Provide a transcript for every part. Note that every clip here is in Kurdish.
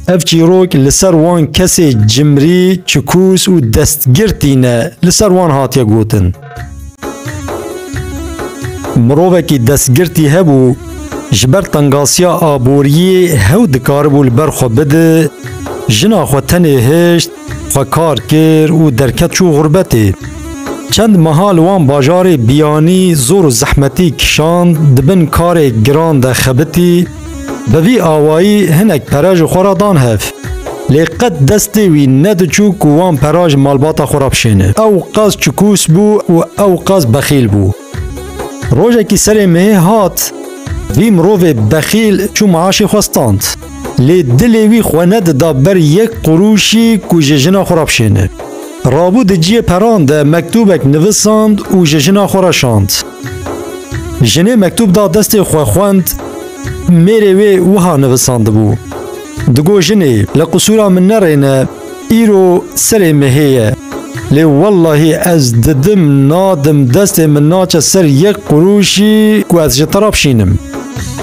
Ev çîrok li ser wan kesê cimrî, çikûs û destgirtî ne li ser wan hatiye gotin. Mirovekî destgirtî hebû ji ber tengasiya aboriyê hew dikaribû li ber xwe bide, jina xwe tenê hişt, Xwe kar kir û derket çû xurbetê. Çend meha li wan bajarê biyanî zor û zehmetî kişand, di bin karê giran de xebitî, bi vî awayî hinek pere ji xwe re dan hev. Lê qet destê wî nediçû ku wan pera ji malbata xwe re bişêne. Ew qas çikûs bû û ew qas bexîl bû. Rojekî serê me hat, vî mirovê bexîl çû maaşê xwe stand. Lê dilê wî xwe nedida ber yek qurûşî ku ji jina xwe re bişêne. Rabû di ciyê peran de mektûbek nivisand û ji jina xwe re şand. Jinê mektûb da destê xwe xwend, mêrê wê wiha nivisandibû, Digot jinê, li qisûra min nerêne, Îro serê mehê ye. Lê wellahî ez didim nadim destê min naçe ser yek qurûşî ku ez ji te re bişînim.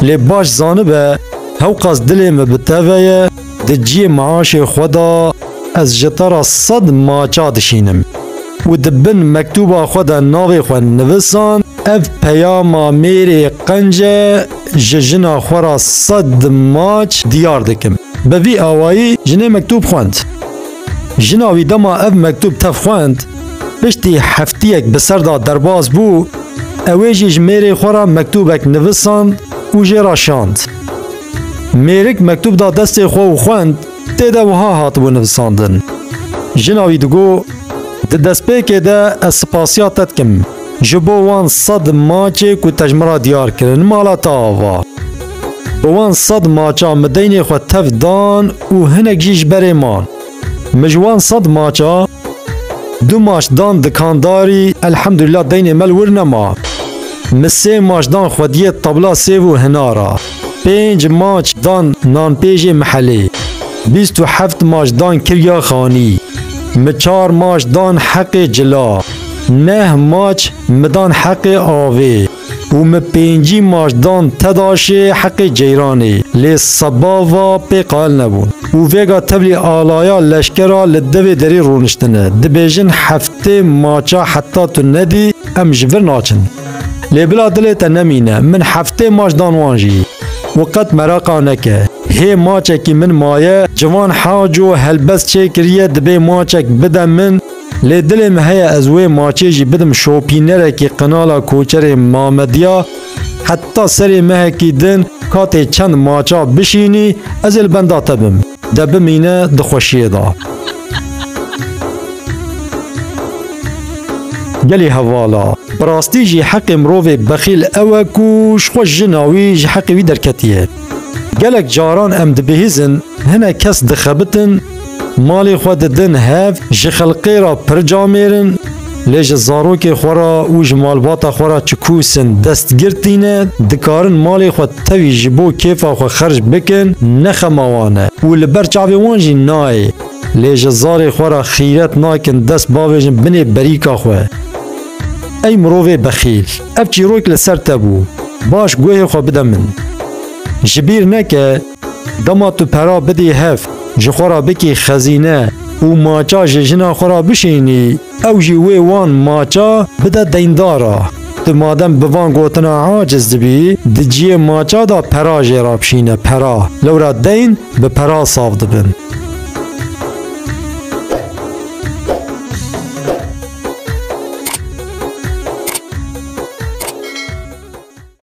Lê baş zanibe hewqas dilê min bi te ve ye, di cihê meaşê xwe de ez ji te re sed maça dişînim. Û di bin mektûba xwe de navê xwe nivisand, ev peyama mêrê qenc e, ji jina xwe re sed maç diyar dikim. Bi vî awayî jinê mektûb xwend. Jina wî dema ev mektûb tev xwend, piştî heftiyek bi ser da derbas bû, ew ê jî ji mêrê xwe re mektûbek nivisand û jê re şand. Mêrik mektûb da destê xwe û xwend, tê de wiha hatibû nivisandin. Jina wî digot, Di destpêkê de ez spasiya te dikim. Ji bo wan sed maçê ku te ji min re diyar kirin mala te ava. Bi wan sed maça min deynê xwe tev dan û hinek jî ji berê man. Min ji wan sed maça du maç dan dikandarî elhemdulîla deynê me li wir nema. Min sê maç dan xwediyê tabla sêv û hinara. Pênc maç dan nanpêjê Mihelê, bîst û heft maç dan Kirya Xanî, mi çar maç dan Heqê Cila, neh maç mi dan Heqê Avê û mi pêncî maç dan Tedaşê Heqê Ceyranê. Lê seba va pê qail nebûn û vêga tevlî alaya leşkera li devê derî rûniştine, dibêjin heftê maça heta tu nedî em ji vir naçin. Lê bila dilê te nemîne, min heftê maç dan wan jî. Û qet meraqa neke. Hê maçekî min maye, ciwan Haco helbest çêkiriye dibê maçek bide min, lê dilê min heye ez wê maçê jî bidim şopînerekî qinala koçerê Mamediya, heta serê mehekî din ka tê çend maça bişînî, ez ê li benda te bim. De bimîne di xweşiyê de. Gelê hevala. Bi rastî jî heqê mirovê bexîl ew e ku ji xwe jina wî ji heqê wî derketiye. Gelek caran em dibihîzin hinek kes dixebitin, malê xwe didin hev, ji xelqê re pir camêr in, Lê ji zarokê xwe re û ji malbata xwe re çi kûsin destgir tîne, dikarin malê xwe tevî ji bo kêfa xwe xerc bikin, ne xema wan e û li ber çavê wan jî nayê. Lê ji zarê xwe re xîret nakin dest bavêjin binê berîka xwe. Ey mirovê bexîl! Ev çîrok li ser te bû. Baş guhê xwe bide min. Ji bîr neke. Dema tu pera bidî hev, ji xwe re bikî xezîne û maça ji jina xwe re bişînî, ew jî wê wan maça bide deyndara. Tu madem bi van gotina aciz dibî, di ciyê maça de pera jê re bişîne, pera. Lewra deyn bi pera saf dibin.